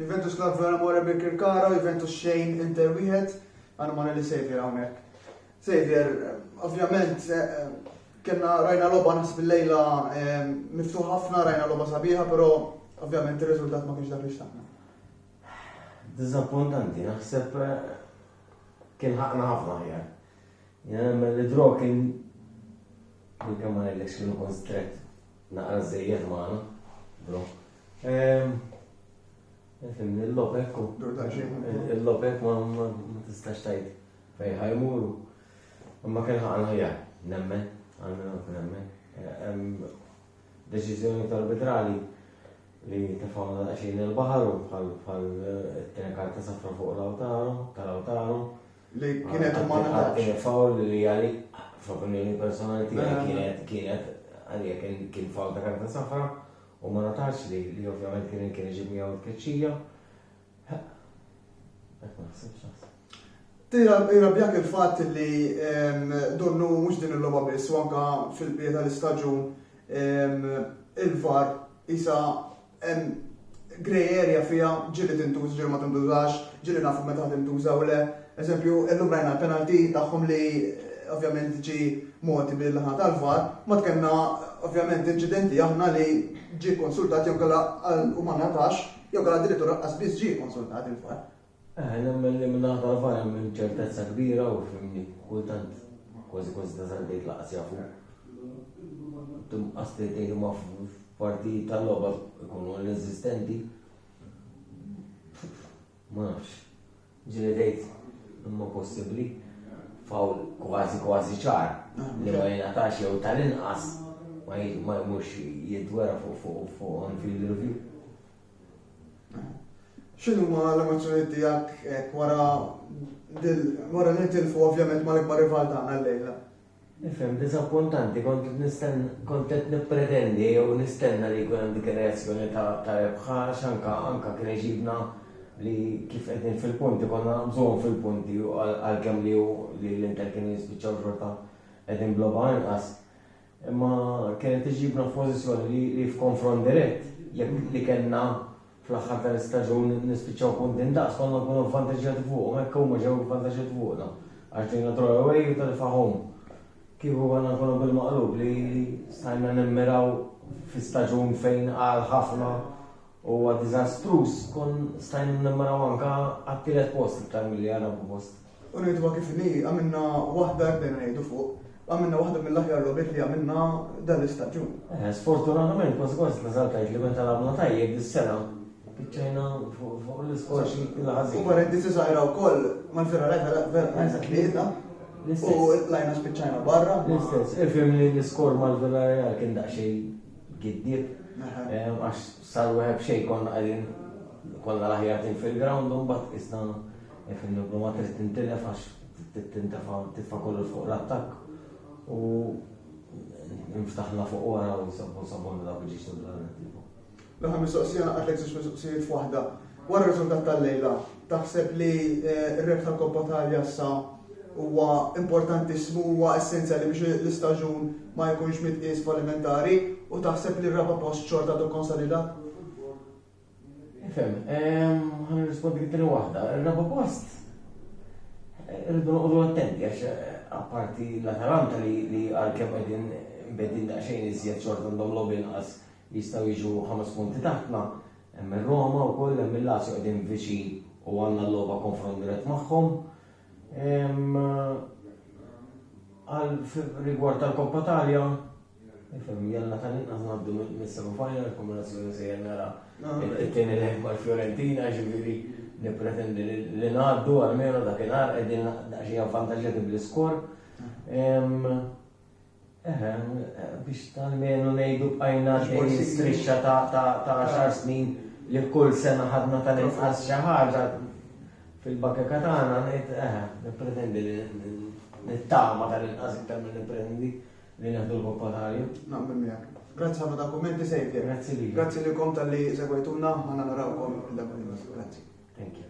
Juventus Lazio għal Amore Birkirkara u Juventus xejn Inter wieħed għal Amore li Xavier hawnhekk. Xavier, ovvjament kena rajna loba nas bil-lejla miftuħ ħafna, rajna loba sabiħa, pero ovvjament il-rezultat ma kienx dak li xtaqna. Dizappuntanti, naħseb eh, kien ħakna ħafna ħjar. Jien nemmen li Draw kien Minkemm ma ngħidlekx kienu kont strett naqra żżejjed magħna, Draw. Fimni l-lob ekku. Il-lob hekk ma tistax tgħid fejn ħajmuru. Imma kien ħaqna ħjar, nemmen, għalmenu kien nemmen. Deċiżjoni tal-arbitrali li tefawna daqsxejn il-baħar u bħal it-tenkar ta' safra fuq l-awtaru, tal-awtaru. Li kienet u ma natax. Kienet fawl li għali, f'opinjoni personali tiegħi kienet kienet għalija kien fawl ta' karta safra u ma natax li li ovvjament kien kien iġib miegħu tkeċċija. Qed ma naħsibx Jirabjak il-fatt li donnu mhux din il-logħba biss u anka fil-bieta l-istaġun il-var isa Hemm grey area fiha, ġieli tintuża, ġieli ma tintużax, ġieli nafu meta tintuża u le. Eżempju, illum rajna l-penalty tagħhom li ovvjament ġie mogħti min-naħa tal-VAR, mbagħad kellna ovvjament inċidenti aħna li ġie kkonsultat jew inkella u ma ngħatax, jew inkella addirittura lanqas biss ġie kkonsultat il-VAR. Nemmen li minnaħa tal-AHVA hemm ċertezza kbira u fimni kultant kważi kważi tasal tgħid lanqas jafu. Tinqas tgħid tgħid imma f'partijiet tal-logħba jkunu ineżistenti. Ma nafx. Ġieli tgħid imma possibbli fawl kważi kważi ċar li ma jingħatax jew tal-inqas ma jmurx jidwera fuq fuq fuq on-field review. X'inhuma l-emozzjonijiet tiegħek hekk wara dil wara li nitilfu ovvjament mal-ikbar rival tagħna llejla? Nifhem, diżappuntanti, kont qed nisten kont qed nippretendi jew nistenna li jkun hemm dik ir-reazzjoni ta' ta' rebħa għax anka anka kien għeġibna li kif qegħdin fil-punti konna naqbżuhom fil-punti għalkemm li hu li l-Inter kienu jispiċċaw xorta qegħdin b'logħba inqas. Imma kienet iġibna f'pożizzjoni li f'konfront dirett, jekk li kellna fl-aħħar tal-istaġun nispiċċaw punti ndaqs, konna nkunu vvantaġġjati fuqhom, hekk huma ġew ivvantaġġjati fuqna għax ġejna draw away u telfa home. Kieku konna nkunu bil-maqlub li stajna nimmiraw fi staġun fejn qal ħafna u huwa diżastruż, kont stajna nimmiraw anke għat-tielet post iktar milli għar-raba' post. U ngħiduha kif inhi, għamilna waħda, hekk dejna ngħidu fuq, għamilna waħda mill-aħjar logħbiet li għamilna dan l-istaġun. Eh, sfortunatament, kważi kważi tlażaltajt li meta lagħbna tajjeb dis-sena spiċċajna fuq l-iskor xi ħażin. U parentesi żgħira wkoll mal-ferra lajfa lajfa tlieta. U lajna spiċċajna barra. L-istess, ifhem li l-iskor mal-ferra lajfa kien daqsxejn giddib. Eh, għax sal-web xejn konna qegħdin kollha l-aħjar fil-ground u mbagħad isna Jaf il-Logomar trid tintilef għax trid tintefa' titfa' kollox fuq l-attakk u nftaħna fuq wara u sabbu sabbu nilgħab iġiex l-alternattiva. L-aħħar mistoqsija naqatlek żewġ mistoqsijiet f'waħda. Wara r-riżultat tal-lejla, taħseb li eh, r-rebħ tal-Koppa Talja sa huwa importantissimu huwa essenzjali biex l-istaġun ma jkunx mitqies fallimentari u taħseb li r-raba' post xorta għadu konsolidat? Fem, ħan nirrispondi t-tini waħda. Il-raba post, rridu noqogħdu attenti għax apparti l-Atalanta li għalkemm qegħdin bedin daqsxejn iżjed xorta għandhom logħob inqas jistgħu jiġu ħames punti taħtna, hemm ir-Roma wkoll hemm il-Lazio qegħdin viċin u għandna l-logħba konfront dirett magħhom. Għal rigward tal-Koppa Talja, Nifhem, jalla tal-inqas ngħaddu mis-semi final il-kombinazzjoni se jennara it-tieni lejn mal-Fiorentina, ġifieri nippretendi li ngħaddu għalmenu dakinhar qegħdin daqsxejn avvantaġġjati bl-iskor. Eħe, biex tal-menu ngħidu bqajna xi strixxa ta' xar snin li kull sena ħadna tal-inqas xi ħaġa fil-bakkeka tagħna ngħid eħe, nippretendi li nittama tal-inqas iktar milli nippretendi Li neħdu l-koppa tal-jum. Naqbel miegħek. Grazzi ħafna ta' kummenti sejfja. Grazzi li. Grazzi li kom tal-li segwejtuna, ħana narawkom il-dakwinus. Grazzi. Thank you.